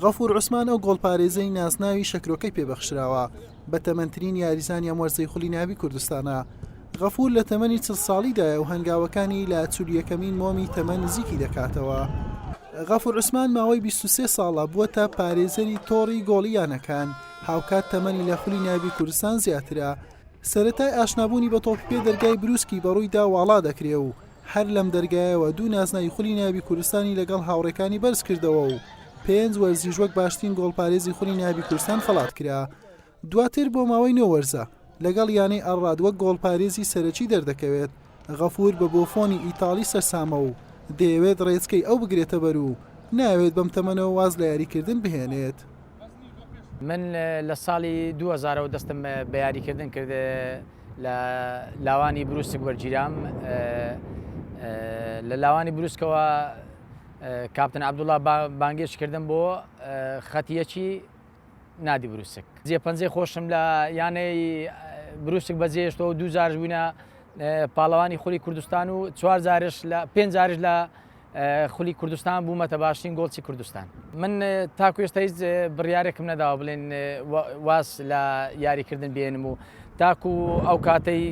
غەفور عوسمان ئەو گۆڵپارێزەی نازناوی شەکرۆکەی پێبەخشراوە، بە تەمەنترین یاریزانی ئەم وەرزەی خولی ناوی کوردستانە. غەفور لە تەمەنی چل ساڵیدایە و هەنگاوەکانی لە چل و یەکەمین مۆمی تەمەن نزیکی دەکاتەوە. غەفور عوسمان ماوەی بیست و سێ ساڵە بووەتە پارێزەری تۆڕی گۆڵی یانەکان، هاوکات تەمەنی لە خولی ناوی کوردستان زیاترە. سەرەتای ئاشنابوونی بە تۆپی پێ دەرگای برووسکی بەڕوویدا واڵا دەکرێ و هەر لەم دەرگایەوە دوو نازناوی خولی نایابی کوردستانی لەگەڵ هاوڕێکانی بەرزکردەوە و پێنج وەرزیش وەک باشترین گۆڵپارێزی خولی نایابی کوردستان خەڵات کرا، دواتر بۆ ماوەی نۆ وەرزە لەگەڵ یانەی ئەلڕاد وەک گۆڵپارێزی سەرەکی دەردەکەوێت، غەفور بە بۆفۆنی ئیتاڵی سەرسامە و دەیەوێت ڕێچکەی ئەو بگرێتەبەر و نایەوێت بەم تەمەنەوە واز لە یاریکردن بهێنێت. من لە ساڵی دوو هەزارەوە دەستم اه، بە یاریکردن کرد اه، لە لاوانی بروسک وەرگیرام اه، اه، لە لاوانی بروسکەوە اه، کاپتن عەبدوڵڵا با- بانگێش کردم بۆ اه، خەت یەکی نادی بروسک جێ پەنجەی خۆشم لە یانەی اه، بروسک بەجێهێشتەوە و دوو جارش بووینە اه، پاڵەوانی خولی کوردستان و چوار جارش لە پێنج جارش لە خولی کوردستان بوومەتە باشترین گۆڵچی کوردستان من تاکو ئێستا هیچ بڕیارێکم نەداوە بڵێن واز لە یاریکردن بێنم و تاکو ئەو کاتەی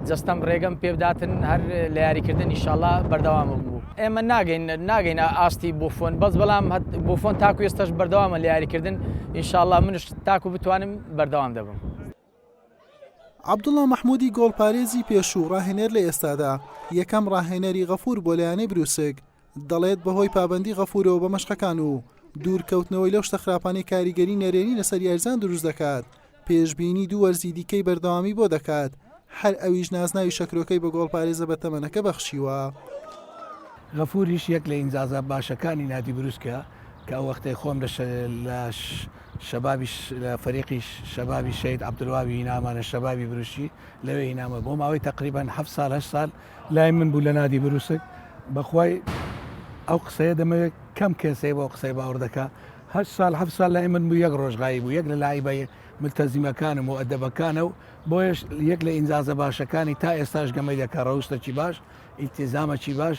جستەم ڕێگەم پێبداتن هەر لە یاریکردن ئیشاڵا بەردەوام بوو ئێمە ناگەین ناگەین ئاستی بۆفۆن بەس بەڵام بۆفۆن تاکو ئێستش بەردەوامە لە یاریکردن ئیشاءله منش تاکو بتوانم بەردەوام دەبم. عەبدوڵا مەحمودی گۆڵپارێزی پێشوو ڕاهێنەر لە ئێستادا یەکەم ڕاهێنەری غەفور بۆ لایەنەی بروسک دەڵێت بەهۆی پابەندی غەفورەوە بە مەشقەکان و دوورکەوتنەوەی لەو شتە خراپانەی کاریگەری نەرێنی لەسەر یاریزان دروست دەکات پێشبینی دوو وەرزی دیکەی بەردەوامی بۆ دەکات هەر ئەویش نازناوی شەکرۆکەی بە گۆڵپارێزە بە تەمەنەکە بەخشیوە. غەفوریش یەک لە ئینجازە باشەکانی نادی بروسکە کە ئەو وەختەی خۆم لە شەبابی لە فەریقی شەبابی شەید عەبدولواوی هینامان لە شەبابی بروشی لەوێ هینامە بۆ ماوەی تقریبان هەفت سال هەشت سال لای من بوو لە نادی بروسک بەخوای ئەو قسەیە دەمەوێت کەم کەسێ بۆ قسەی باوەڕ دەکا هە سال هە سال لای من بوو یەک ڕۆژغایی بوو یەک لە لایبە ملتەزیمەکانم و ئەدەبەکانە و بۆیش یەک لە ئینجازە باشەکانی تا ئێستاش گەمەی دەکە ڕەوشتەکی باش ئیتیزامەکی باش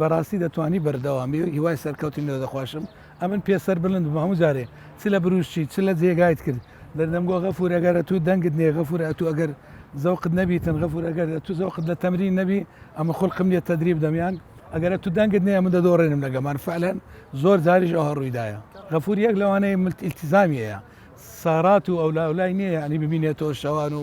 بەراستی دەتوانی بەردەوامی و هیوای سەرکەوتن لۆ دەخواشم ئەمن پێ سەر بلند بم هەموو جارێ چ لە بروشچی چ لە جێگایت کرد دەردەم گۆ غەفور ئەگەر ئەتوو دەنگت نێ غەفور ئەتوو ئەگەر زەوقت نەبیتن غەفور ئەگەر ئەتوو زەوقت لە تەمرین نەبی ئەمن خولقم نیە تەدریب دەمیان ئەگەر ئەتوو دەنگت نێ ئەمن دەدۆڕێنم لە گەمان فەعلەن زۆر جاریش ئەوە ڕوویدایە غەفور یەک لەوانەیە ملت ئیلتیزامیەیە سارات و ئەولا ئەولای نیە یانی ببینێتەوە شەوان و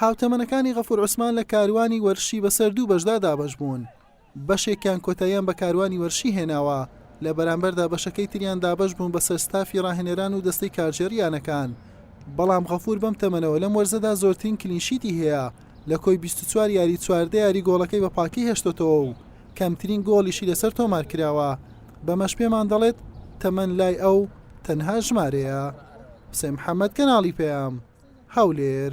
هاوتەمەنەکانی غەفور عوسمان لە کاروانی وەرشی بەسەر دوو بەشدا دابەش بوون بەشێکیان کۆتاییان بە کاروانی وەرشی هێناوە لە بەرامبەردا بەشەکەی تریان دابەش بوون بەسەر ستافی ڕاهێنەران و دەستەی کارگێڕی یانەکان بەڵام غەفور بەم تەمەنەوە لەم وەرزەدا زۆرترین کلینشیتی هەیە لە کۆی بیست و چوار یاری چواردە یاری گۆڵەکەی بە پاکی هێشتۆتەوە و کەمترین گۆڵیشی لەسەر تۆمار کراوە بەمەش پێمان دەڵێت تەمەن لای ئەو تەنها ژمارەیە. حسێن محەمەد کەناڵی پەیام هەولێر.